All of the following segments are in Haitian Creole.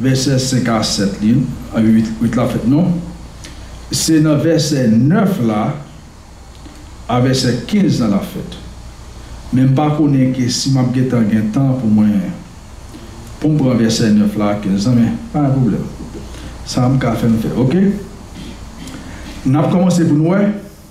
Vèsè 5 a 7 li anvi 8 la fèt non se nan vèsè 9 la a vèsè 15 lan lap fèt men m pa konnen ke si map gentan gen tan pou mwen poum pran vèsè 9 la a 15 lan men pa gen pwoblèm sa m ka fè m fè ok nap kòmanse pou nou wè.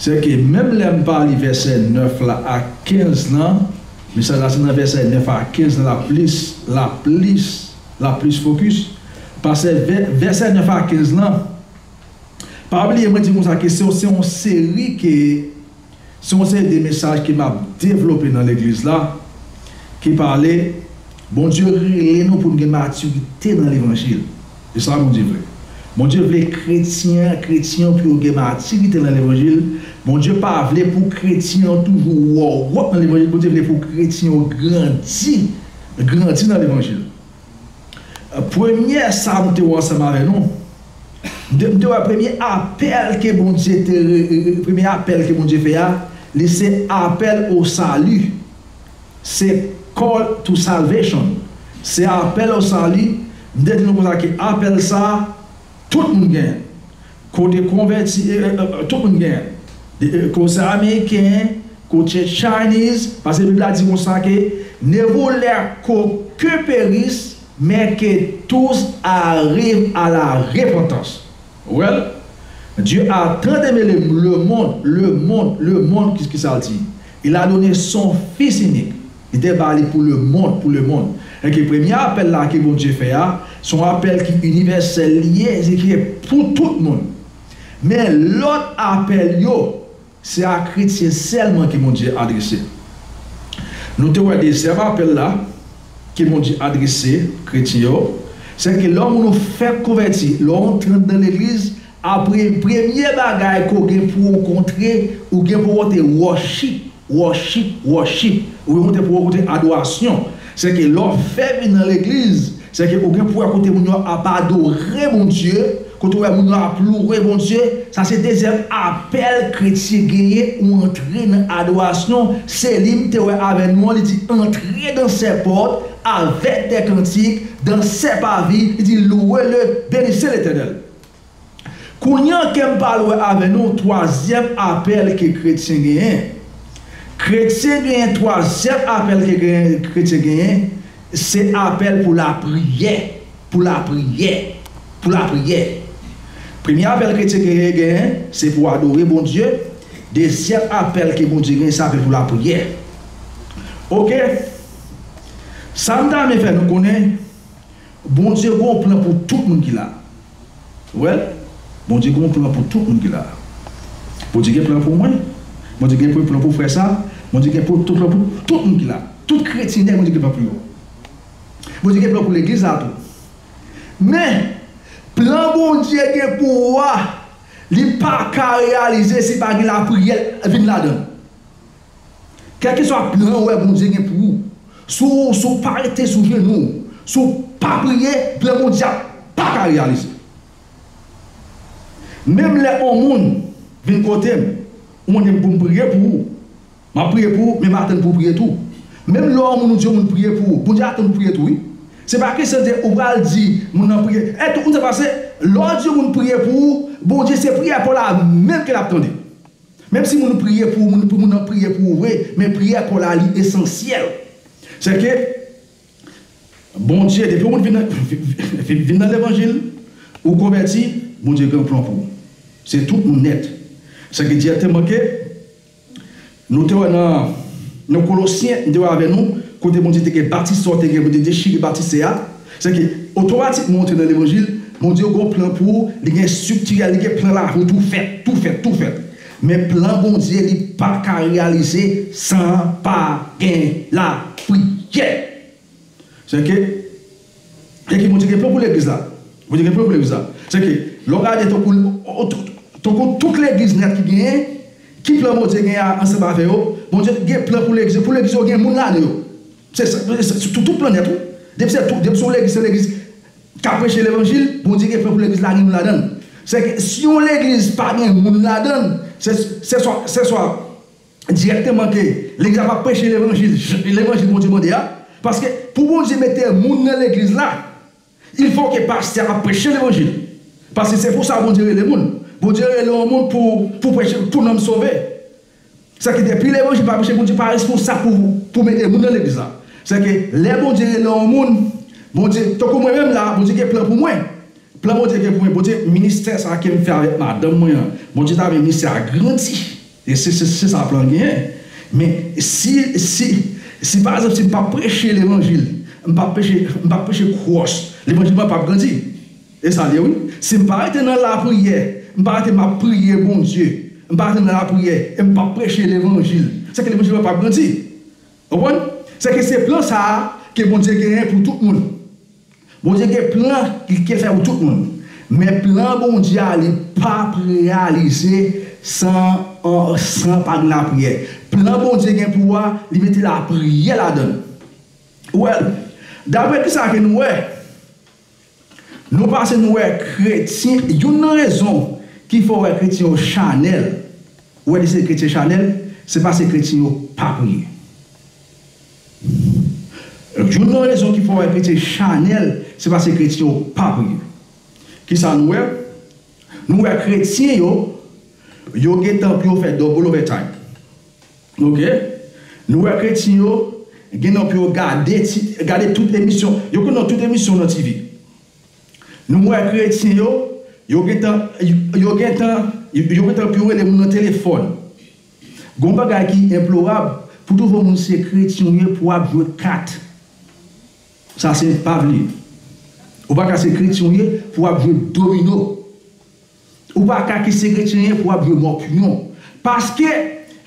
Sèke menm lè m pa li vèsè 9 la ak 15 lan, mesaj la se nan vèsè 9 a 15 lan l ap plis, l ap plis, l ap plis fokis. Pase vèsè 9 a 15 lan, pa bliye mwen di w konsa ke se yon se yon seri ke, se yon seri de mesaj ke m ap devlope nan legliz la, ki pale, Bondye rele nou pou n gen matirite nan levanjil. Se sa Bondye vle. Bondye vle kretyen ak kretyen yo pou yo gen matirite nan levanjil. Bondye pa vle pou kretyen yo toujou wòwòt nan levanjil. Bondye vle pou kretyen yo grandi, grandi nan levanjil. Premye sa m te wè ansanm avè nou, m te wè premye apèl ke Bondye te, premye apèl ke Bondye fè a, li se apèl o sali. Se call to salvation se apèl o sali m te di nou konsa ke apèl sa tout moun gen kote konvèti e tout moun gen e ko se ameriken ko ce chinese pase bib la di konsa ke ne voulè ko ke peris men ke tous ariv a la repantans. Well Dieu a tan demelem le monde le monde le monde ki kisal di il a donné son fils unique li te ba li pou le monde pou le monde ok premye apèl la ke Bondye fè a son apèl ki inivèsèl li ye se ki pou tout moun men lòt apèl yo Se a kretyen sèlman ke Bondye adrese. Nou te wè dezyèm apèl la ke Bondye adrese kretyen yo, se ke lè yon moun fèk konvèti, lè w antre nan legliz, apre premye bagay ke w gen pou w kontre, ou gen pou w kontre worship, worship, worship, ou gen pou w kontre adorasyon. Sèke lè w fè vin nan legliz, sèke ou gen pou wè kote moun yo ap adore Bondye, kote ou wè moun yo ap louwe Bondye, sa se dezyèm apèl kretyen genyen ou antre nan adorasyon, Seli m te wè avè nou an, li di antre dan sè pòt avèk dè kantik, dan sè pavi, li di louwe le, benise Letènèl. Kounya kem pa lwe ave nou twazyem apel ke kretyen genyen. Kretyen genyen twazyem apel ke kretyen genyen se apel pou la priye, pou la priye, pou la priye. Premye apel kretyen genyen se pou adore Bondye, dezyem apel ke Bondye genyen se apel pou la priye. Ok. Sam ta rmen fe nou konnen. Bondye gon plan pou tout moun ki la wè Bondye gon plan pou tout moun ki la Bondye gen plan pou mwen Bondye gen plan pou frè sa Bondye gen plan pou tout moun ki la tout kretyen Bondye gen plan pou yo Bondye gen plan pou legliz la tou men plan Bondye gen pou ou a li paka reyalize si pa gen lapriyè vin ladann. Kèlkeswa plan ou wè Bondye gen pou ou, si w si w pa rete sou jenou w, si w pa priye, plan Bondye a pa ka reyalize. Menm lè on moun vin kote m, ou mande m pou m priye pou ou, m ap priye pou ou, men m atann pou w priye tou. Menm lè on moun ou di on moun priye pou ou, Bondye atann pou w priye tou wi. Se pa kesyon de ou pral di moun nan priye. E tout moun sa pase, lè w di on moun priye pou ou, Bondye se priyè pa w la menm ke l ap tande. Menm si moun priye pou moun pou moun nan priye pou ou vre men priyè kò la li esansyèl sè ke Bondye depi yon moun vin nan vin nan levanjil ou konvèti Bondye gen yon plan pou ou se tout moun nèt sè ke dirèkteman ke nou te wè nan nan kolosyen m te wè avè nou kote Bondye te gen batistè ou te gen pou te dechire batistè a. Sèke, otomatikman ou antre nan levanjil, Bondye gon plan pou ou, li gen estrikti a, li gen plan lavi ou tou fèt, tou fèt, tou fèt. Men plan Bondye li pa ka reyalize san pa gen lapriyè. Sèke, sèke Bondye gen plan pou legliz la. Bondye gen plan pou legliz la. Sèke, lè w gade tankou, tankou tout legliz nèt ki genyen, ki plan Bondye genyen ansanm avè yo? Bondye gen plan pou legliz yo, pou legliz yo gen moun ladan yo. Se sa, sou tout planèt wi. Depi se tout, depi se yon legliz, se legliz kap preche levanjil, Bondye gen plan pou legliz la gen moun ladann. Sèke si yon legliz pa gen moun ladann, se se swa, se swa dirèkteman ke legliz la pap preche levanjil, levanjil Bondye mande a, paske pou Bondye mete moun nan legliz la, Il fò ke pastè ap preche levanjil paske se pou sa Bondye rele moun. Bondye rele yon moun pou pou preche pou nanm sove. Sa ke depi levanjil pa preche Bondye pa responsab pou pou mete moun nan legliz la. Sa ke lè Bondye rele yon moun Bondye tankou mwen menm la Bondye gen plan pou mwen. Plan Bondye gen pou mwen Bondye ministè sa kem fè avèk madanm mwen an Bondye ta vle ministè a grandi. E se se sa plan genyen. Men si si si pa ekzanp si m pa preche levanjil, m pa preche m pa preche cross, levanjil mwen pap grandi. E sa l ye wi. Si m pa rete nan lapriyè, m pa rete m ap priye Bondye, m pa rete nan lapriyè e m pap preche levanjil, se ke levanjil mwen pap grandi. Ou konprann? Se ke se plan sa a ke Bondye genyen pou tout moun. Bondye gen plan li ke fè pou tout moun, men plan Bondye a li pap reyalize san an san pa gen lapriyè. Plan Bondye gen pou ou a li mete lapriyè ladann. Ou wè, dapre kisa ke nou wè, nou pase nou wè kretyen, youn nan rezon ki fè ou wè kretyen yo chanèl, ou wè ki se kretyen chanèl, se paske kretyen yo pa priye. Youn nan rezon ki fè w enkrite chanèl se pase kretyen yo pa priye. Kisa nou wè? Nou wè kretyen yo, yo gentan pou yo fè double overtime. Ok. Nou wè kretyen yo gen nan pou yo gade ti, gade tout emisyon, yo konn nan tout emisyon nan TV. Nou wè kretyen yo, yo gentan, yo gentan, yo gentan pou yo rele moun nan telefòn. Gon bagay ki enplorab pou tout yon moun se kretyen ou ye pou ap jwe kat sa se enpavle ou paka se kretyen ou ye pou ap jwe domino ou paka ki se kretyen ye pou ap jwe mòpyon paske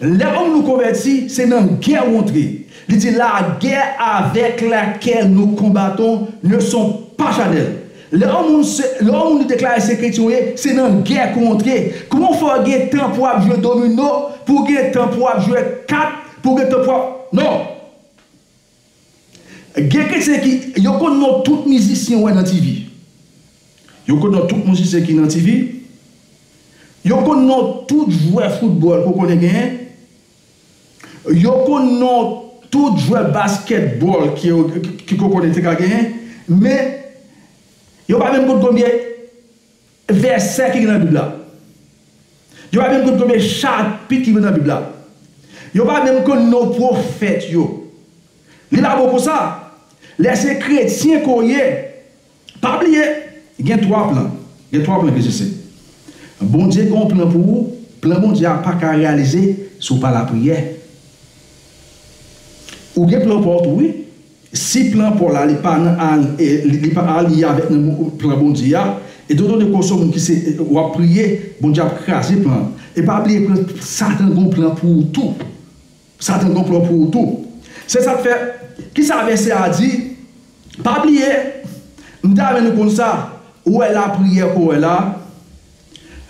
lè yon moun konvèti se nan gè ou antre li di la gè avèk la kè nou konbaton ne son pa chanèl Lè yon moun se, lè yon moun li deklare se kretyen ou ye, se nan gè pou antre. Kouman w fè w gen tan pou w ap jwe domino, pou w gen tan pou w ap jwe kat, pou w gen tan pou w ap, non! Gen kretyen ki, yo konn non tout mizisyen ou wè nan TV. Yo konn non tout mizisyen ki nan TV. Yo konn non tout jwè foutbòl ke w konnen genyen. Yo konn non tout jwè baskètbòl ki Kokone te ka genyen, men, yo pa menm konn konbyen vèsè ki gen nan Bib la. Yo pa menm konn konbyen chapit ki gen nan Bib la. Yo pa menm konn non pwofèt yo. Li pa bon konsa. Lè se kretyen ke w ye, Pa bliye gen 3 plan. Gen 3 plan ke se se. Bondye gen yon plan pou ou, plan Bondye a pa ka reyalize si w pa lapriyè. Ou gen plan paw tou wi. Si plan paw la li pa nan li pa aliye avèk nan plan Bondye a, etandan de ke w se yon moun ki se w ap priye, Bondye ap kraze plan an. E pa bliye pran Satan gen yon plan pou ou tou. Satan konplo pou ou tou. Se sak fè ki sa vèsè a di pa bliye m ta renmen nou konn sa ou wè lapriyè ke w wè la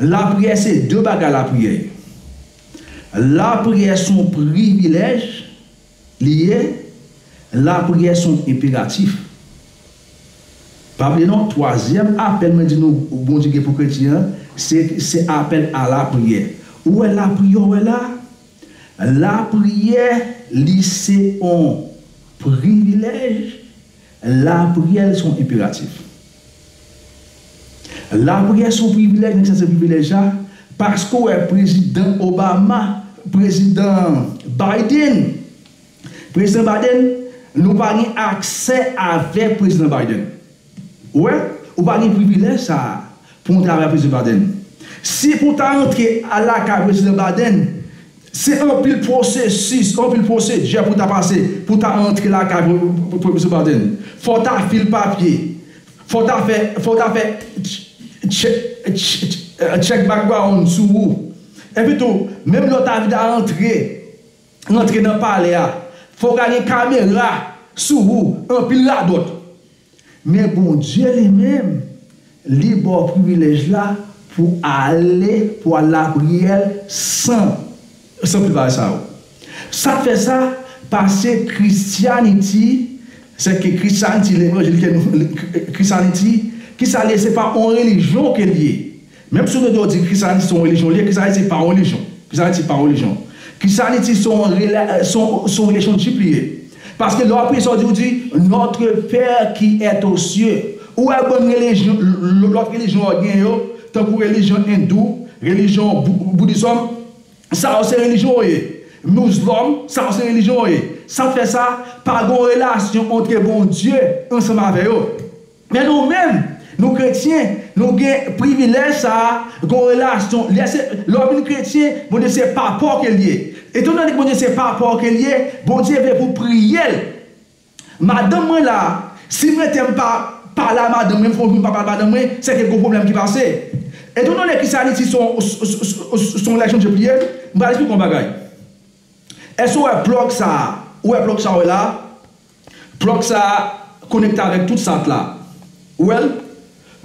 lapriyè se de bagay lapriyè ye lapriyè son privilèj li ye lapriyè son enperatif pa bliye non twazyèm apèl mwen di nou Bondye gen pou kretyen an se apèl a lapriyè ou wè lapriyè w wè la. Lapriyè Li se on privilèj Lapriyè Li se on enperatif Lapriyè se on privilèj Nèg sa se privilèj la Paske ou wè prezidan Obama Prezidan Biden Prezidan Biden Nou pa gen aksè avèk prezidan Biden Ou wè, ou pa gen privilèj sa a pou ou travay ak Prezidan Biden. Si pou ou ta antre al lakay Prezidan Biden, se anpil pwosesis, anpil pwosedjè pou ou ta pase pou ou ta antre lakay Prezidan Biden. Fò ou ta fil papye, fò ou ta fè, fò ou ta fè tchèk background sou ou. Epitou, menm lè ou ta vle ta antre. rantre nan palè a fok a gen kamera sou ou anpil radot men Bondye li menm li baw privilèj la pou ale pou al lapriyè san san pil bagay sa yo sak fè sa pase Christianity sèke Christianity levanjil ke nou Christianity kisa li ye se pa on relijyon ke li ye. Menm si w tande yo di Krisyanis se yon relijyon li ye, Krisyanis se pa yon relijyon. Krisyanis se pa yon relijyon. Krisyanis se yon rela, se yon, se yon relationship li ye. Paske lè w ap priye sa w di, ou di, Notre Père qui est aux cieux. Ou wè bann relijyon, lòt relijyon yo genyen yo, tankou relijyon endou, relijyon bou, boudisòm, sa yo se relijyon yo ye. Mouzlòm, sa yo se relijyon yo ye. Sa fè sa, pa gen yon relasyon antre Bondye ansanm avè yo. Men nou menm, nou kretyen, nou gen privilèj sa a, gen yon relasyon, lè se, lè w vin kretyen, Bondye se papa w ke l ye. Etandone ke Bondye se papa w ke l ye, Bondye vle pou w priye l. Madanm mwen la, si m rete m pa pale a madanm mwen, m fè yon jou m pa pale a madanm mwen, se gen gwo pwoblèm ki pase. Etandone ke sa li di se yon, se yon relationship li ye, m pral esplike w yon bagay. Èske w wè plug sa a, ou wè plug sa a w wè la a? Plug sa konekte avèk tout sat la. Ou wèl?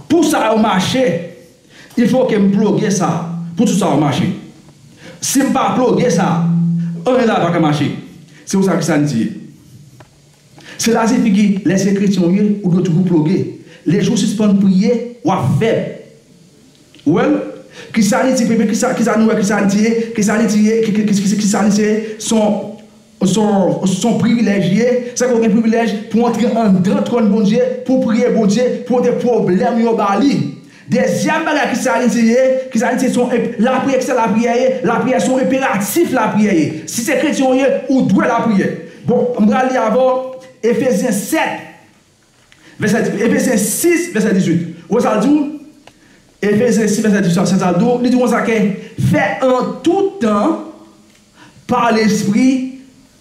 Pou sa yo mache, il fò kem pluge sa pou tout sa yo mache. Sim pa pluge sa, anyen la paka mache. Se konsa ke sa di ye. Se la se figi lè se kretyen ou ye, ou dwe toujou pluge. Le jou sispann priye, wap fèb. Ou wèl? Kisa li di premye, kisa nou wè kisa li di ye, kisa li di ye, kisa li se, son. Son privilèj li ye, sa ke w gen privilèj pou w antre anndan twòn Bondye, pou w priye Bondye, pou w pote pwoblèm yo ba li. Dezyèm bagay ki sa li se ye, ki sa li se son lapriyè, ki sa lapriyè ye, lapriyè son enperatif lapriyè ye. Si se kretyen w ye, ou dwe lapriyè. Bon, m pral li avè w Efezyen 7. Vèsè 18, Efesyen 6, vèsè 18, ou wè sa l di w? Efesyen 6, vèsè 18 sa l di w? Li di w konsa ke, Fè an tout tan, pa Lespri,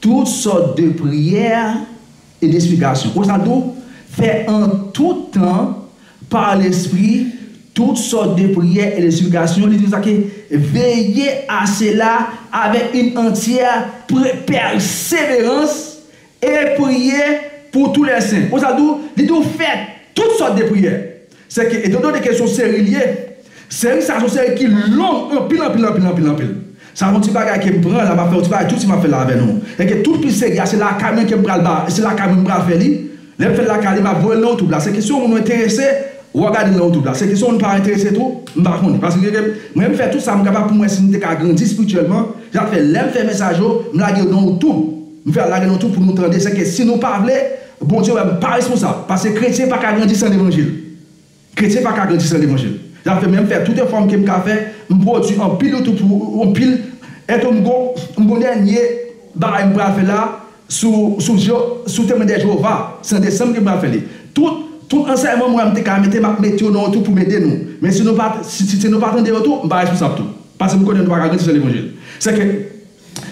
tout sòt de priyè e de siplikasyon. Ou wè sa l di w? Fè an tout tan, pa Lespri, tout sòt de priyè e de siplikasyon. Li di konsa ke, Veye a sela avèk yn antyè pèseverans E priye pou tou lè sen. Konsa tou, li tou fè tout sòt de priyè. Sèke etandone ke son seri l ye, seri sa a son seri ki long anpil anpil anpil anpil anpil. Sa son ti bagay ke m pran la, m ap fè yon ti bagay tou ti m ap fè l la avè nou. Sèke tout pi seri a se lakay mwen ke m pral ba, se lakay mwen m pral fè li. Lè m fè l lakay li, m ap voye l nan youtube la. Sèke si yon moun ou enterese, w a gade l nan youtube la. Sèke si yon moun pa enterese tou, m pa konnen. Paske sèke mwen m fè tout sa m kapab pou m wè si m te ka grandi spirityèlman. Se sa k fè lè m fè mesaj yo, m lage yo nan youtube. M fè al lage nou tou pou nou tande se ke si nou pa vle Bondye wè m pa responsab paske kretyen pa ka grandi san levanjil kretyen pa ka grandi san levanjil zafè men m fè tout efò m ke m ka fè m pwodwi anpil youtube pou anpil e tou m gon m gon dènye bagay m pral fè la sou sou je sou temwen de Jewova se an desanm ke m pral fè li tout tout ansèyman m wè m te ka mete m ap mete yo nan youtube pou m ede nou men si nou pa si nou pa tande yo tou m pa responsab tou paske m konnen nou pa ka grandi san levanjil se ke.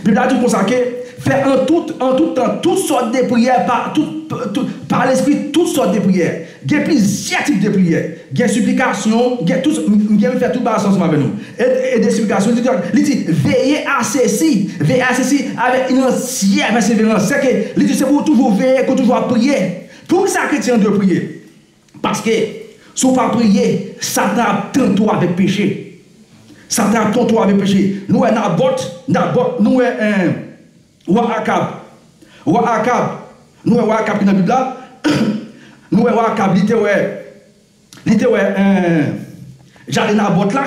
Bib la di konsa ke, Fè an tout, an tout tan, tout sòt de priyè pa, tout, tout, pa Lespri, tout sòt de priyè. Gen plizyè tip de priyè. Gen siplikasyon, gen tout, m gen m fè tout bagay sa ansanm avè nou. E, e de siplikasyon, li di konsa, li di, Veye a sesi, veye a sesi avèk yn antyè pèseverans. Sèke, li di, se pou ou toujou veye, ke w toujou ap priye. Poukisa kretyen an dwe priye? Paske, si w pa priye, Satan ap tante w avèk peche. Satan ap tante w avèk peche. Nou wè Nabòt, Nabòt, nou wè wa Akab. Wa Akab, nou wè wa Akab ki nan Bib la, nou wè wa Akab li te wè, li te wè jaden Nabòt la,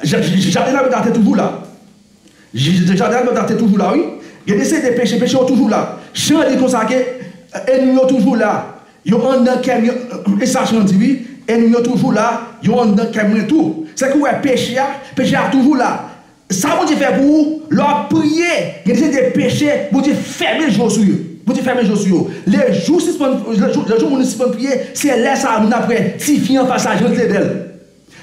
jaden Nabòt la te toujou la. Jij Dejardin Almendar te toujou la wi. Gen de CD peche, peche yo toujou la. Chan an di konsa ke Enmi yo toujou la, yo anndan kè m, e sa chan an di wi, Enmi yo toujou la, yo anndan kè mwen tou. Se ke ou wè peche a, peche a toujou la. Sa Bondye fè pou ou, lè w ap priye, gen de CD peche, Bondye fèmen je w sou yo. Bondye fèmen je w sou yo. Le jou sispann, le jou moun sispann priye, se lè sa a moun ap wè tifi an fas a jan l te bèl.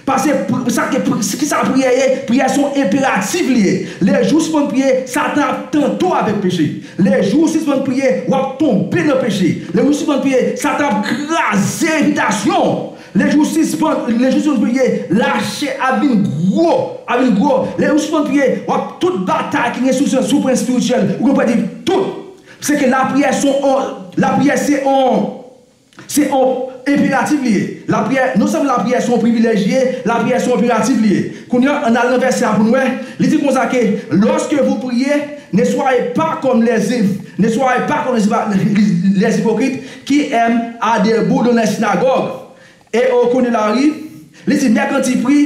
Pase sa ke kisa priyè ye, priyè son enperatif li ye, le jou sispann priye satan ap tante-w avek peche, le jou ou sispann priye wap tonbe nan peche, le jou sispann priye satan ap kraze repitasyon-w, le jou sispann le jou sispann priye lache ap vin gro ap vin gro, le jou sispann priye wap tout batay ki gen sou pwen espirityèl ou gen pou pèdi tout, se ke lapriyè son on lapriyè se on. Se yon enperatif li ye. Lapriyè, non sèlman lapriyè se yon privilèj li ye, lapriyè se yon enperatif li ye. Kounye a, ann al nan vèsè a pou n wè, li di konsa ke, Lòske vou priye, ne swaye pa kòm lè Zif, ne swaye pa kòm lè Zipokrit, ki èm a debou dan lè sinagòg, e o kwen de lari, li di, Mèkanti pri,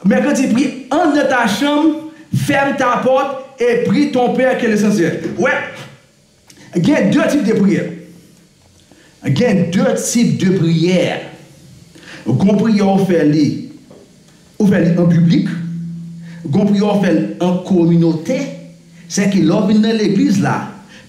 mèkanti pri, ann nan ta chanm, fèm ta pòt, e pri ton Pè ke lesansyèl. Ou wè? Gen de tip de priyè. Gen de tip de priyè. Gon priyè ou fè li, ou fè li an piblik. Gon priyè ou fè l an kominote. Se ke lè ou vin nan legliz la,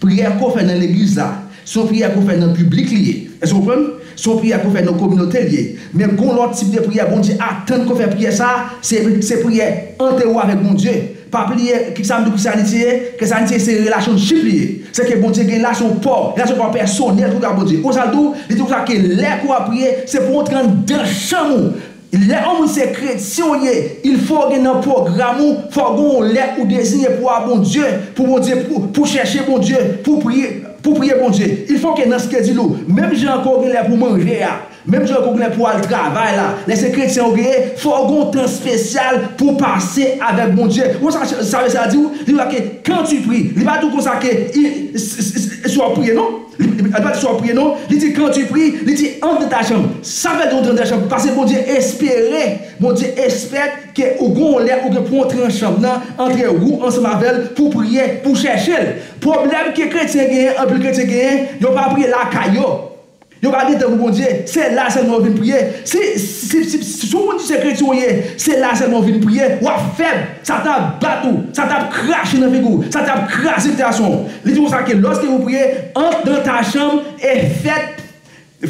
priyè ke w fè nan legliz la, se yon priyè ke w fè nan piblik li ye. Èske ou konprann? Se yon priyè ke w fè nan kominote li ye. Men gon lòt tip de priyè, Bondye atann ke w fè priyè sa a, se priyè ante ou avèk Bondye. Pa bliye, ki sa m di w ki sa Anitye ye? Ke sa Anitye ye se relationship li ye. Se ke Bondye gen la se yon paw, relasyon paw pèsonèl ke w gen ak Bondye. Konsa l di w, li di konsa ke lè ke w ap priye, se pou w antre anndan chanm ou. Lè yon moun se kretyen w ye, il fo w gen nan pwogram ou, fò gen yon lè ou deziye pou w a Bondye, pou Bondye, pou w chèche Bondye, pou w priye, pou w priye Bondye. Il fo ke nan skedil ou, menm jan ke w gen lè pou w manje a, Menm jan ke w gen pou w al travay la, lè se kretyen ou genyen, fò w gen yon tan spesyal pou w pase avèk Bondye. Ou konn sa sa vle sa di wi? Li pa ke quand tu pries. Li pa di w konsa ke i, si, si w ap priye non. Li, li pa di si w ap priye non. Li di quand tu pries, li di entre dans ta chambre. Sa vle di entre dans ta chambre? Paske Bondye espere, Bondye espèk ke ou gen yon lè ou gen pou w antre nan chanm nan, antre ou ansanm avè l pou w priye, pou w chèche l. Pwoblèm ke kretyen genyen, anpil kretyen genyen, yo pa priye lakay yo. Yo pa gen tan pou Bondye, se la selman yo vin priye. Si si ou moun di se kretyen ou ye, se la selman ou vin priye, wap fèb. Satan ap bat ou, Satan ap krache nan figi ou, Satan ap kraze sitiyasyon ou. Li di konsa ke loske ou priye, antre dan ta chanm e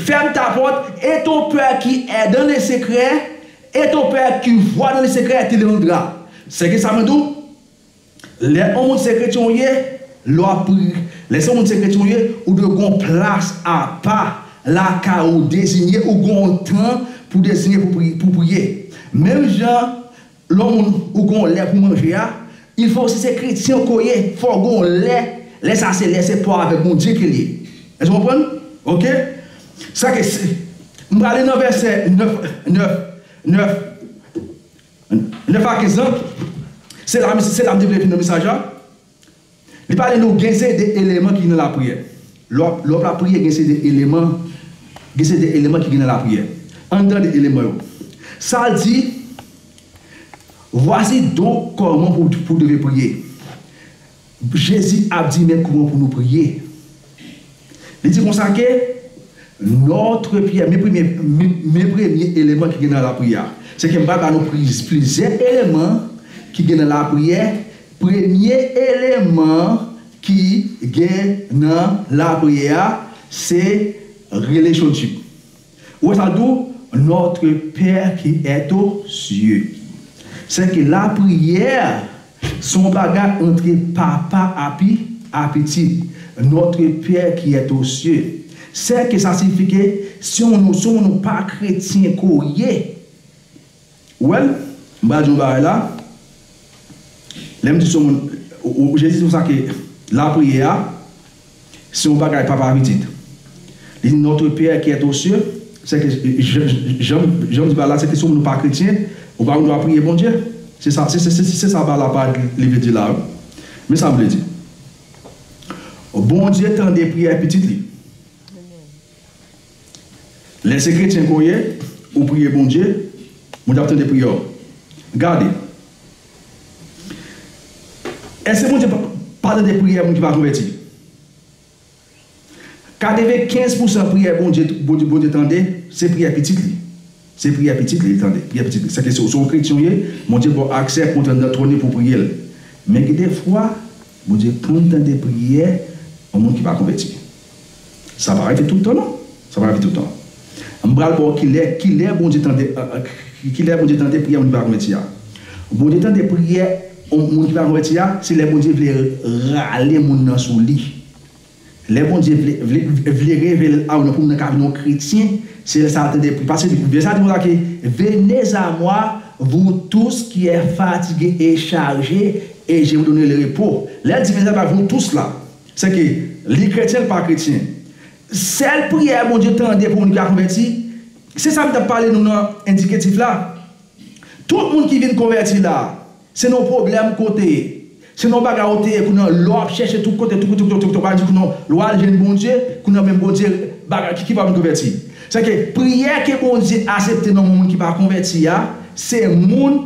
fèm ta pòt, e ton pè ki è dan le sekrè, e ton pè ki vwa dan le sekrè te lirandra. Seke sa mwen di ou? Lè on moun se kretyen ou ye, lè wap pri, lè se on moun se kretyen ou ye, ou dwe gon plas apa lakay ou dezinye ou gon tan pou dezinye pou pri, pou priye. Menm jan lè on moun ou gon lè pou manje a, il fò si se kretyen ke w ye, fò gon lè, lè sa se lè se paw avèk Bondye ke l ye. Èske w konprann? Ok. Sa ke si, m prale nan vèsè 9, 9, 9. 9 a 15 lan, se la se la m te vle vin nan mesaj la, li pale nou gen se de eleman ki nan lapriyè. Lè w lè w ap lapriyè gen se de eleman gen se de eleman ki gen nan lapriyè. Ann tande eleman yo. Sa l di, Vwasi donk kòman pou pou w deve priye. Jezi ap di men kouman pou nou priye. Li di konsa ke, Notre Pierre, men premye, men premye eleman ki gen nan lapriyè a. Se ke m pral ba nou plizyè eleman ki gen nan lapriyè, premye eleman ki gen nan lapriyè a se relationship. Wè sa dou, Notre Père qui est aux cieux. Se ke lapriyè son bagay antre papa api a pitit. Notre Père qui est aux cieux. Se ke sa sifi ke se yon nou pa kretyen ke w ye, Ou wè l? M pral di w yon bagay la, lè m di son moun, ou Jezi di konsa ke lapriyè a se yon bagay papa pitit. Li di Notre Père qui est aux cieux, sè ke jan m di ba la, sè ke si w moun ou pa kretyen, ou pa gen dwa priye Bondye. Se sa, se sa ba la pa li vle di la wi. Men sa m vle di. Bondye tande priyè pitit li. Lè se kretyen ke w ye, ou priye Bondye, Bondye ap tande priyè w. Gade! Èske Bondye pa tande priyè moun ki pa konvèti? Katrevennkenz pousan priyè Bondye tande se priyè pitit li. Se priyè pitit li li tande. Priyè pitit li. Sèke si w se yon kretyen w ye, Bondye ba w aksè pou w antre nan twòn li pou w priye l. Men gen de fwa, Bondye konn tande priyè yon moun ki pa konvèti. Sa pa rive tout tan non. Sa pa rive tout tan. M pral ba w kilè, kilè Bondye tande, kilè Bondye tande priyè moun ki pa konvèti a. Bondye tande priyè moun ki pa konvèti a, se lè Bondye vle rale moun nan sou li. Lè Bondye vle vle vle revele a ou nan pou nan ka vin yon kretyen, se lè sa a tande paske vè sa di konsa ke venez a moi vous tous qui est fatigue et charge et je vous donnerai le repos. Lè l di venez a moi vous tous la, se ke li kretyen li pa kretyen. Sèl priyè Bondye tande pou moun ki pa konvèti, se sa m t ap pale nou nan endiketif la. Tout moun ki vin konvèti la a, Se nan w pwoblèm ke w te ye. Se nan w bagay w te ye kounye an lè w ap chèche tout kote tout kote kote w al di kounye lè w al jwenn Bondye kounye an menm Bondye bagay ki ki pa vin konvèti. Sa vle di priyè ke Bondye asepte nan moun ki pa konvèti a se moun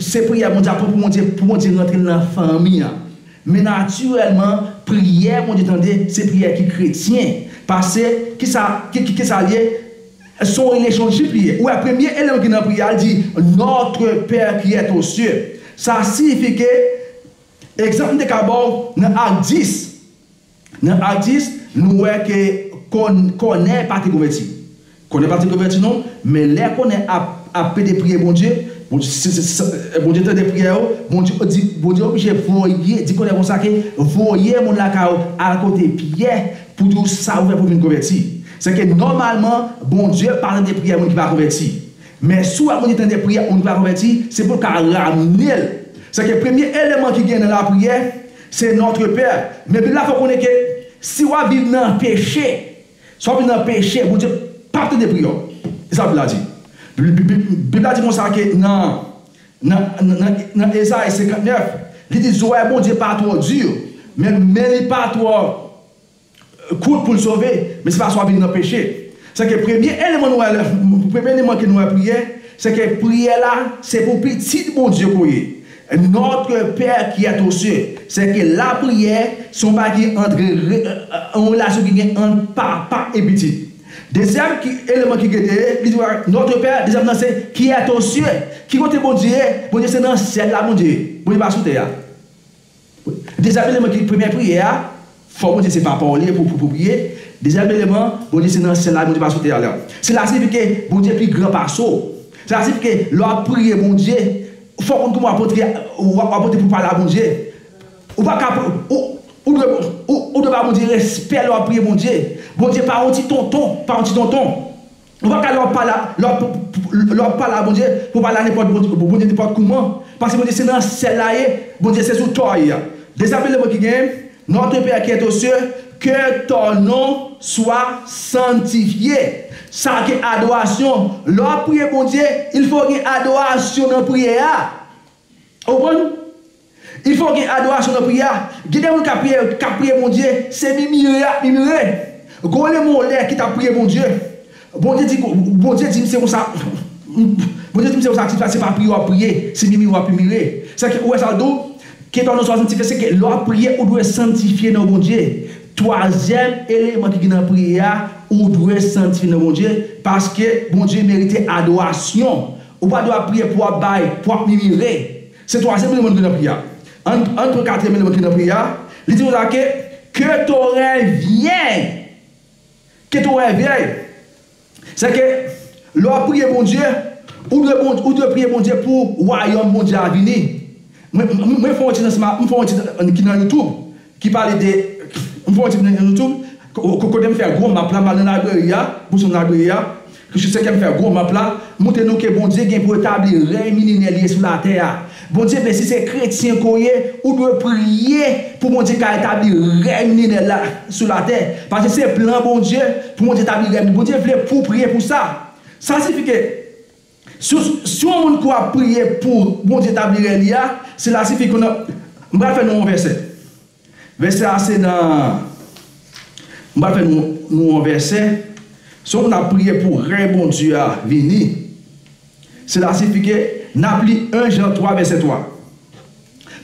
se priyè Bondye ap pran pou Bondye pou Bondye rantre nan fanmi an. Men natirèlman priyè Bondye tande se priyè ki kretyen pase kisa kisa l ye? Se yon lejondjip li ye. Ou wè premye eleman ki nan priye a li di Notre Père qui est aux cieux. Sa siyifi ke, egzanp m te ka ba w nan Ak 10, nan Ak 10 nou wè ke Kòn, Kònè pa te konvèti. Kònè pa te konvèti non, men lè Kònè ap, ap pede priye Bondye, Bondye, se, se, se, Bondye tande priyè yo, Bondye di, Bondye oblije voye, di Kònè konsa ke voye moun lakay ou al kote Pyè Pou di w sa ou fè pou w vin konvèti. Sèke nòmalman, Bondye pa tande priyè moun ki pa konvèti. Men si w wè Bondye tande priyè moun ki pa konvèti, se pou l ka ramne l. Sèke premye eleman ki gen nan lapriyè, se Notre Père. Men Bib la fè w konnen ke si w ap viv nan peche, si w ap viv nan peche, Bondye p ap tande priyè w. Se sa Bib la di. Bib la di konsa ke nan. Nan Ezayi 59, li di, Zorèy Bondye pa twò di, men men li pa twò kout pou l sove, men se pa swa vin nan peche. Sèke premye eleman nou wè, premye eleman ke nou wè priyè, sèke priyè la se pou pitit Bondye ke w ye. Notre Père qui est aux cieux. Sèke lapriyè se yon bagay ki antre, yon relasyon ki gen ant papa e pitit. Dezyèm ki eleman ki gede ye, li di w bagay notre père, dezyèm nan se qui est aux cieux, ki kote Bondye ye, Bondye se nan syèl la Bondye ye, Bondye pa sou tè a. Dezyèm eleman ki premyè priyè a, fò Bondye se papa w li ye pou pou priye, dezyèm eleman Bondye se nan syèl la Bondye pa sou tè a lè se la siyifi ke Bondye pi gran pase w se la siyifi ke lè w ap priye Bondye fò w konn kouman w ap antre w ap antre pou w pale a Bondye. Ou pa ka pou ou ou dwe ou ou dwe ba Bondye respè lè wap priye Bondye. Bondye pa yon ti tonton, pa yon ti tonton. Ou pa ka lè wap pale a lè wap lè wap pale a Bondye pou pale a nenpòt Bondye nenpòt kouman. Paske Bondye se nan syèl la ye, Bondye se sou tò ye. Dezabile le mond ki gen, Notre Père qui est aux cieux, que ton nom soit sanctifié. Sa ke adorasyon. Lè wap priye Bondye, il fò gen adorasyon nan priyè a. Ou konprann? Il fo gen adorasyon nan priyè a. Gen de moun k ap priye yo, k ap priye Bondye, se mimire y ap mimire. Gole Molè ki t ap priye Bondye, Bondye di, Bondye di m se konsa, Bondye di m se konsa ti fi a, se pa priye w ap priye, se mimire w ap mimire. Sa ke, ou wè sa l di w? Ke pa w nan swasantifye, se ke lè w ap priye, ou dwe santifye nan Bondye. Twazyèm eleman ki gen nan priyè a, ou dwe santifye nan Bondye, paske Bondye merite adorasyon. Ou pa dwe ap priye pou ap bay, pou ap mimire. Se twazyèm eleman ki nan priye a. Ann ann pran katriyèm eleman ki nan priye a. Li di konsa ke, Ke torèy vyen. Ke torèy vyèy. Se ke, lè w ap priye Bondye, ou dwe bon, ou dwe priye Bondye pou wayòm Bondye a vini. Mwen, mwen fè yon ti dans ma, m fè yon ti dans ki nan youtube. Ki pale de, m fè yon ti plen nan nou tou, kote m fè gwo map la, m al nan Laibrery a, Boston Library a, ki sou senkèm fè gwo map la, m montre nou ke Bondye gen pou etabli rèy milenè li sou latè a. Bondye vle si se kretyen ke w ye, ou dwe priye pou Bondye ka etabli rèy milenè l la sou latè. Paske se plan Bondye pou Bondye tabli rèy. Bondye vle pou w priye pou sa. Sa sifi ke Si yon moun kwè ap priye pou Bondye tabli rèy li a, sila sifi ke nan, m pral fè nou yon vèsè. Vèsè a se nan, m pral fè nou yon vèsè, si yon moun ap priye pou rèy Bondye a vini, sila sifi ke n ap li 1 Jan 3 vèsè 3.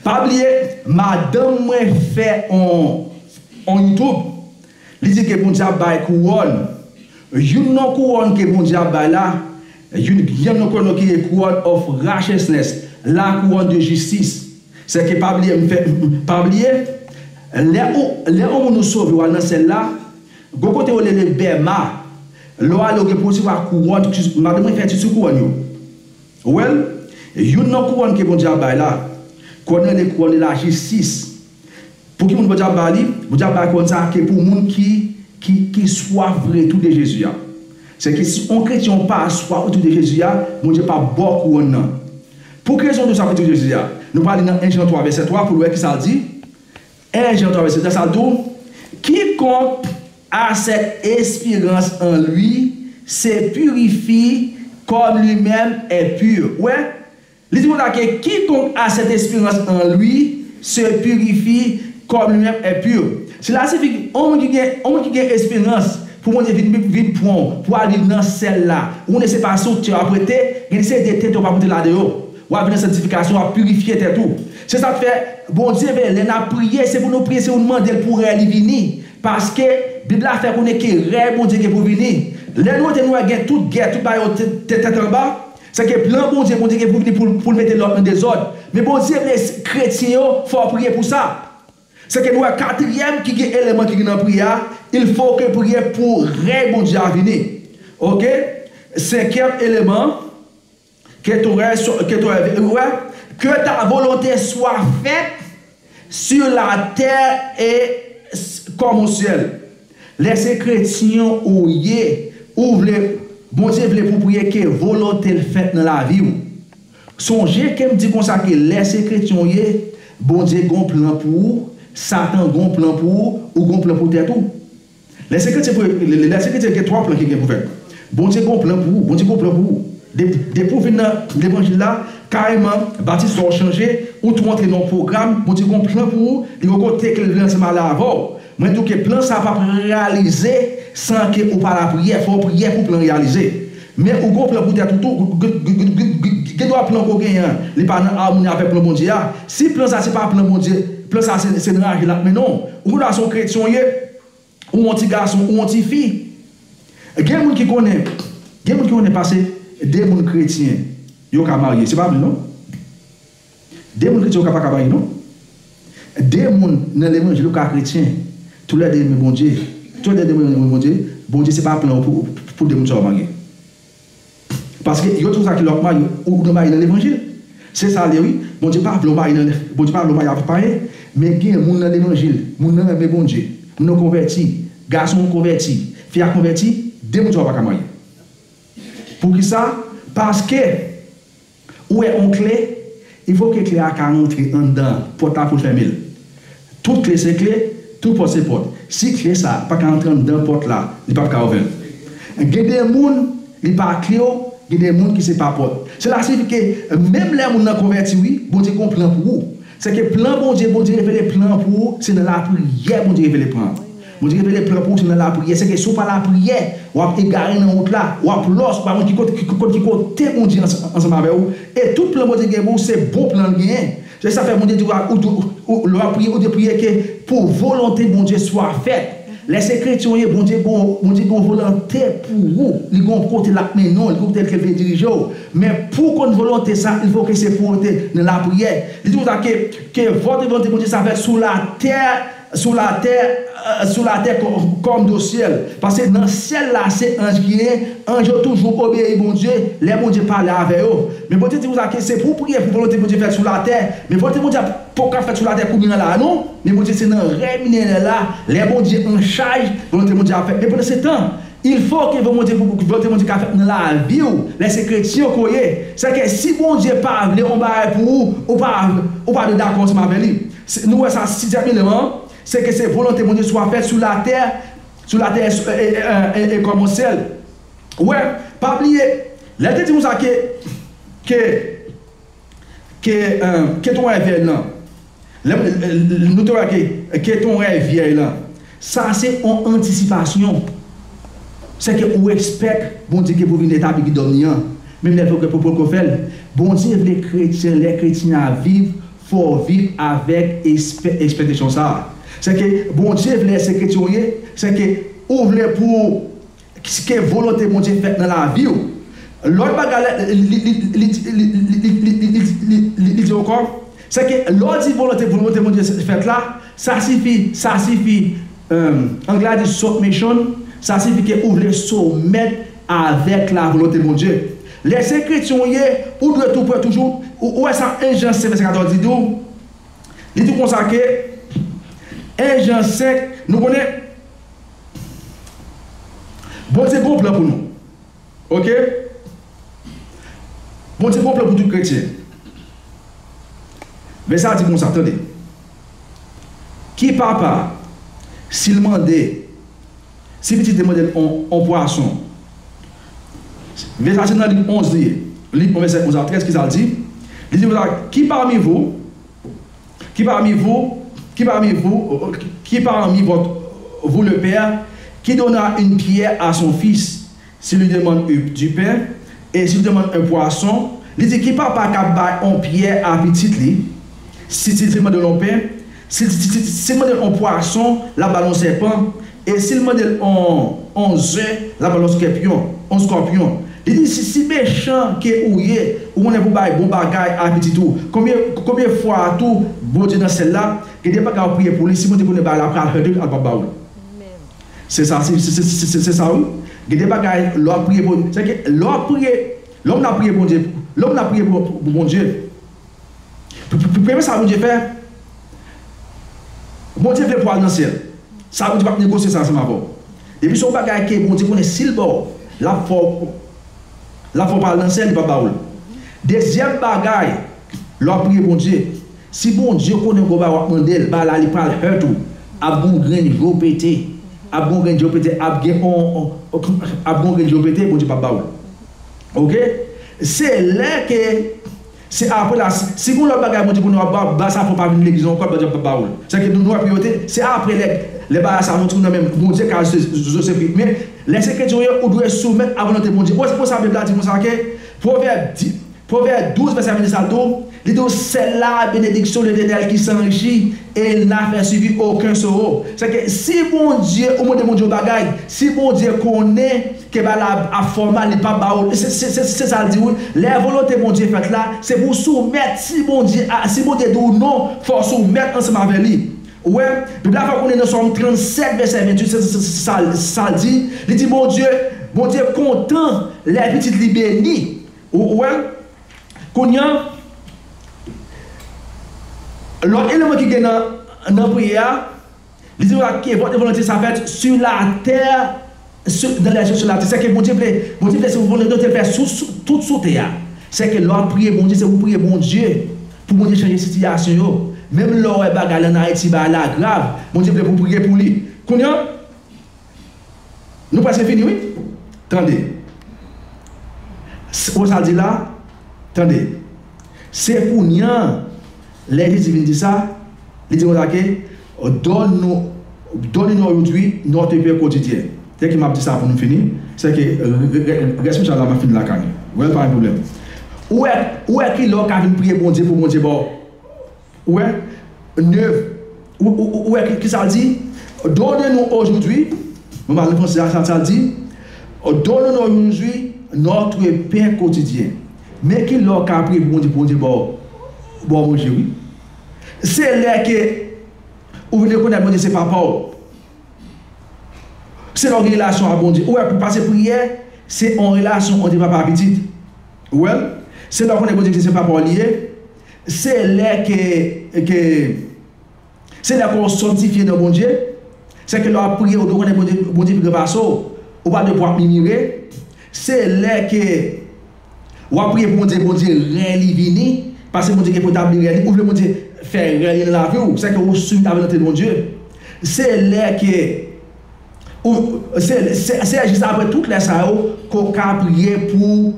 Pa bliye, madanm mwen fè yon YouTube, Li di ke Bondye ap bay kouwòn. Youn nan kouwòn ke Bondye ap bay la, youn nan nou konnen ki e kouwòn of righteousness, la kouwòn de jistis. Sèke pa bliye m fè pa bliye, lè ou lè on moun ou sove ou al nan syèl la, gon kote yo lele Bema, lè w ale ou gen pou resevwa kouwòn, madanm mwen fè etid sou kouwòn yo. Ou wè l? Youn nan kouwòn ke Bondye ap bay la, kouwòn nan rele kouwòn de la jistis. Pou ki moun Bondye ap ba li? Bondye ap ba kòn sa a ke pou moun ki ki ki swaf vre tou de Jezi a. Sèke si on kretyen ou pa swaf tou de Jezi a, Bondye p'ap ba w kouwòn nan. Pou ki rezon ou swaf vre tou de Jezi a? Nou pral li nan 1 Jan 3 vèsè 3 pou nou wè ki sa l di. 1 Jan 3 vèsè 3 sa di w, Kikonk a sèt esperans an Li se pirifi kòm li menm è pur. Ou wè? Li di moun la ke kikonk a sèt esperans an lwi se pirifi kòm li menm è pur. Sila sifi ki on moun ki gen on moun ki gen esperans pou Bondye vin vin vin pran w pou al viv nan sèl la. Ou konnen se pa sou tè w ap rete, gen de seri de tente w pa pote la deyò. W ap vin nan sanktifikasyon, w ap pirifye tèt ou. Se sa k fè Bondye vle lè n ap priye se pou nou priye se pou nou mande l pou rèy li vini. Paske, Bib la fè konnen ke rèy Bondye gen pou vini. Lè nou rete nou wè gen tout gè, tout bagay yo te tèt anba. Sa ki plan Bondye, Bondye gen pou vini pou pou l mete lòd nan dezòd. Men Bondye vle kretyen yo fè w priye pou sa. Sa ke nou wè katriyèm ki gen eleman ki gen nan priyè a, il fo ke priye pou rèy Bondye a vini. Ok. Senkyèm eleman, Ke ton rèy swa ke ton rèy vini, ou wè, Ke ta volonte swa fèt. Sur la terre et s kòm au ciel lè se kretyen ou ye ou vle Bondye vle pou priye ke volonte l fèt nan lavi w sonje ke m di konsa ke lè se kretyen ou ye Bondye gon plan pou ou satan gon plan pou ou ou gon plan pou tèt ou Lè se kretyen pou lè se kretyen gen 3 plan ki gen pou fèt Bondye gon plan pou ou Bondye gon plan pou ou Dep depi ou vin nan levanjil la kareman batis sa w chanje ou tou antre nan yon pwogram Bondye gon plan pou ou li gon kote ke l vle ansanm ale avè w mwen di w ke plan sa pap reyalize san ke ou pa lapriyè fò w priyè pou plan reyalize Men ou gon plan pou tèt ou tou, ou gen dwa plan ke w genyen an, li pa nan amoni avèk plan Bondye a. Si plan sa se pa plan Bondye, plan sa se nan aje l ap mennen w. Ou gen dwa se yon kretyen w ye, ou yon ti gason, ou yon ti fi. Gen moun ki konnen, gen moun ki konnen pase 2 moun kretyen yo ka marye, se pa vre non. De moun kretyen ou ka paka marye non. De moun nan levanjil ou ka kretyen. Tou lè de renmen Bondye. Tou lè de renmen renmen Bondye. Bondye se pa plan ou pou de moun sa yo marye. Paske yo toujou sa ki lè wap marye ou gen mari nan levanjil. Se sa l ye wi. Bondye pa vle w marye nan Bondye pa vle w marye avèk payen. Men gen moun nan levanjil. Moun nan renmen Bondye. Moun nan konvèti. Gason an konvèti. Fi a konvèti. De moun sa yo paka marye. Poukisa? Paske. Ou wè on kle, il faut ke kle a ka rantre anndan an, pòt la pou l fèmen l. Tout kle se kle, tout pòt se pòt. Si kle sa a pa ka rantre anndan pòt la, li pap ka ouvè l. Gen de moun, li pa kle ou, gen de moun ki se pa pòt. Sela sifi ke menm lè moun nan konvèti, wi, Bondye gen on plan pou ou. Sèke plan Bondye, Bondye revele plan an pou ou, se nan lapriyè Bondye revele plan an. Mwen t revele pran pou ou se nan lapriyè sèke si ou pa lapriyè wap egare nan wout la wap lòs ou pa konn kikot ki kote Bondye ansanm avè ou e tout plan Bondye gen pou ou se bon plan l genyen se sa fè Bondye di ou lè wap priye ou dwe priye ke pou volonte Bondye swa fèt lè se kretyen ou ye Bondye gen yon volonte pou ou li gen yon kote lap mennen w li gen yon kote ke l vle dirije w men pou w konn volonte sa il fo ke se pou ou te nan lapriyè li di konsa ke ke vòtre volonte Bondye swa fèt sou latè Sou latè, sou latè kòm do syèl. Paske nan syèl la se anj ki ye, anj yo toujou obeyi Bondye lè Bondye pale avè yo. Men Bondye di konsa ke se pou w priye pou volonte Bondye fèt sou latè. Men volonte Bondye a poko ka fèt sou latè kounye an la a non. Men Bondye se nan rèy minenèl la, lè Bondye an chaj, volonte Bondye ap fèt. Men pandansetan, il fo ke volonte Bondye ka fèt nan lavi w lè se kretyen ke w ye. Sèke si Bondye pa vle yon bagay pou ou, ou pa dwe dakò ansanm avè li. Se nou wè sa sizyèm eleman an, se ke se volonte Bondye swa fèt sou latè, sou latè e sou e e e kòm on sèl. Ou wè, pa bliye, lè l te di konsa ke, ke, ke e, ke ton rèy vyèy lan, lè m, nou te wè ke, ke ton rèy vyèy lan, sa se on antisipasyon, se ke ou espèk Bondye ke pou vin etabli kidòm ni an, menm lè l poko, poko fè l. Bondye vle kretyen, lè kretyen a viv, Fò w viv avèk espèktasyon sa a. Sèke Bondye vle se kretyen w ye, sèke ou vle pou ke volonte Bondye fèt nan lavi w. Lòt bagay li di ankò, sèke lè w di volonte Bondye fèt la, sa sifi, sa sifi, anglè a di submission, sa sifi ke ou vle soumèt avèk lavolonte Bondye. Lè se kretyen ou ye, ou dwe tou kwè toujou, ou wè sa 1 Jan 5 vèsè 14 di tou, li di konsa ke, 1 Jan 5, nou konnen Bondye gon plan pou nou, ok, Bondye gon plan pou tout kretyen, vèsè a di konsa, tande, Ki papa, si l mande. Si pitit li mòde on on pwason. Ve sa a se nan Lik 11 li ye. Lik 11 vèsè 11 a 13, ki sa l di? Li di konsa, Ki pami vou, ki pami vou, ki pami vou, ki pami vòt vou le pè ki donna in pyè a son fis? Si li demann u du pain, e si li demann un poisson, li di ki papa kap bay on pyè a pitit li, si ti ti mandel on pen, si ti ti sil mandel on pwason lap bal on sèpan, e sil mandel on on ze lap bal on skèpyon, on scorpion, li di si si mechan ke ou ye ou konnen pou bay bon bagay a pitit ou, konbyen konbyen fwa tou Bondye nan syèl la gen de bagay wap priye pou li si Bondye konnen bagay la pral handle al pap bawol. Se sa se sa wi gen de bagay lè wap priye bon se ke lè wap priye lè w nan priye bondye lè w nan priye pou bondye premye sa bondye fè bondye vle pou al nan syèl sa bondye pap negosye sa ansanm avèw depi son bagay ke bondye konnen sil baw lap fè w lap fè w pa al nan syèl li pap ba ou l dezyèm bagay lè wap priye bondye Si Bondye konnen gwo bagay wap mandel ba la li pral hurt ou ap gon grenn jow pete ap gon grenn jow pete ap gen on ap gon grenn jow pete Bondye pap ba ou ok se lè ke se apre la si gon lòt bagay Bondye konnen wap ba sa fòw pa vin legliz ankò Bondye pap ba oul se ke nou wè priyorite se apre lè lè bagay sa rantre ou nan men Bondye ka zo se fri men lè se kretyen ou ye ou dwe soumèt a volonte Bondye ou wè se pou sa bib la di konsa ke pwovèb di Pwovèb 12 vèsè 26 la tou, li di w sèla benediksyon Letènèl ki san ji, e l na fè sivi oken soro. Sèke si Bondye ou mande Bondye yon bagay, si Bondye konnen ke bagay la ap fè w mal, li pap ba ou l. Se sa l di wi, lè volonte Bondye fèt la, se pou w soumèt, si Bondye a, si Bondye di w non, fò w soumèt ansanm avè li. Ou wè, Bib la fè w konnen nan Sòm 37 vèsè 28 se sa l di, li di Bondye, Bondye kontan lè pitit li beni, Ou wè? Kounye a, lòt eleman ki gen nan priyè a, li di nou la, ke vòtre volonte sa fèt su latè su dan lè su latè. Sèke Bondye vle, Bondye vle se pou volonte l fèt sou tout sou tè a. Sèke lè w ap priye Bondye, se pou priye Bondye pou Bondye chanje sitiyasyon yo. Menm lè w wè bagay lan Ayiti, bagay la grav, Bondye vle pou priye pou li. Kounye a. Nou prèske fini wi Tande s Rosa di la Tande Se kounye an Lè Jezi vin di sa Li di konsa ke Donn nou Donne-nous aujourd'hui notre pain quotidien Tè ke m ap di sa pou nou fini Se ke Rès mouchaj la m ap fini lakay nou Wè l pa gen pwoblèm Ou wè Ou wè ki lè ou ka vin priye Bondye pou Bondye ba w Ou wè? Ne. Ou wè ki sa l di? Donne nous aujourd'hui, nou pral panse a sa l di, Donne nous aujourd'hui notre pain quotidien. Men ki lè w ka priye pou Bondye, pou Bondye ba w, ba w manje wi. Se lè ke ou vin rekonèt Bondye se Papa w. Se lè w gen relasyon ak Bondye. Ou wè, pase priyè, se yon relasyon ant yon papa ak pitit. Ou wè l? Se lè w konnen Bondye ki se Papa w li ye. Se lè ke, ke, se lè kò w sòntifye nan Bondye, se ke lè w ap priye ou dwe konnen Bondye, Bondye pi gran pase w, ou pa dwe pou ap mimire, se lè ke w ap priye pou Bondye, Bondye rèy li vini, pase Bondye gen pou tabli rèy li, ou vle Bondye fè rèy li nan lavi w, se ke ou soumèt a volonte Bondye, se lè ke ou, se, se jis apre tout lè sa yo ke w ka priye pou.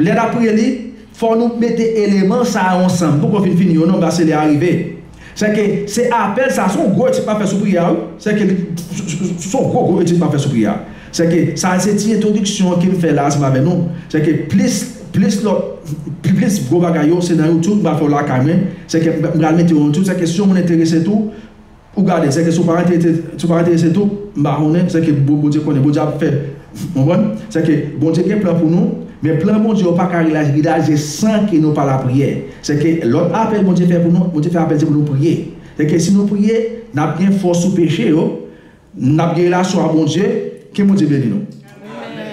Lè n ap reli, fò nou mete eleman sa yo ansanm poukò fin fini yo non pase lè a rive. Sèke se apèl sa a, se yon gwo etid m ap fè sou priyè a wi, sèke li se yon gwo gwo etid m ap fè sou priyè a. Sèke sa a se ti entwodiksyon an ke m fè la a ansanm avè nou. Sèke plis plis lòt plis gwo bagay yo se nan youtube m pral fè yo lakay mwen, sèke m pral mete yo nan youtube sèke si yon moun enterese tou, Ou gade, sèke si w pa enterese, si w pa enterese tou, m pa konnen, sèke Bon, Bondye konnen, Bondye ap fè, w konprann? Sèke Bondye gen plan pou nou, men plan Bondye yo pa ka realize san ke nou pa lapriyè. Sèke lòt apèl Bondye fè pou nou, Bondye fè apèl se pou nou priye. Sèke si nou priye, n ap gen fòs sou peche yo, n ap gen relasyon ak Bondye, ke Bondye beni nou. Amen!